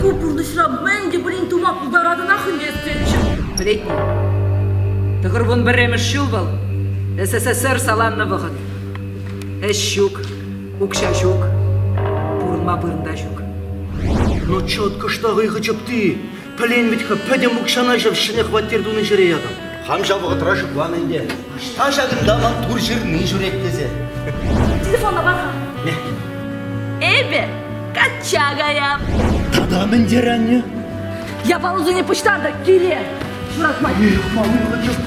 Ку пурнӑҫра мӗн те пулин тума пултаратӑнах ӗнтӗ эсетчӗ. Пӗлетни. Тӑхӑрвун пӗрремӗш ҫул вӑл СССР саланнӑ вӑхӑт. Ӗҫ ҫук, Укҫа ҫук, пурӑнма вырӑн та ҫук. Ну кӑшта хӑйхӑ чӑпти. Пӗлен вӗт-ха, пӗтӗм укҫана ҫав ҫӗнӗ хваттер тунӑ ҫӗре ятӑм. Хам ҫав вӑхӑтра шутлан ӗнтӗ. Ӑҫта ҫакӑнта ман тур ҫырни ҫӳрет тесе. Телефонна пар-ха. Не. Эпӗ качча каям. Тата мӗн тери анне? Я полузыне пуҫтарта, кире! Шуратмать.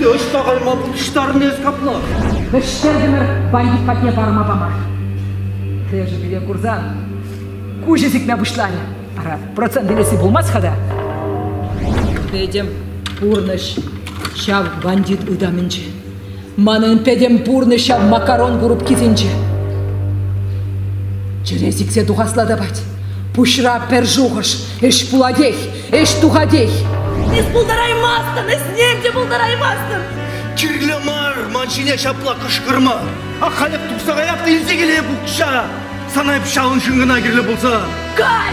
Ӑҫта кайма пуҫтарнӑ эс капла? Вӗҫертӗмӗр бандит патне парӑма пама. Кӗшӗ пире курсан куҫӗ сикме пуҫларӗ. Ара, процент илесси пулмасть-ха та. Этем пурнӑҫ ҫав бандит ытамӗнче. Манӑн пӗтӗм пурнӑҫ ҫав макарон курупкисенче. Чӗре сиксе тухасла тапать. Пуҫра пӗр шухӑш. Ӗҫ пулатех, ӗҫ тухатех. Эс пултараймастӑн, ӗҫнем те пултараймастӑн. Кирлӗ мар, ман ҫине ҫапла кӑшкӑрма. Ак халь эп тухса каяп та илсе килеп укҫа. Сана эп ҫавӑн ҫын кӑна кирлӗ пулса. Кай!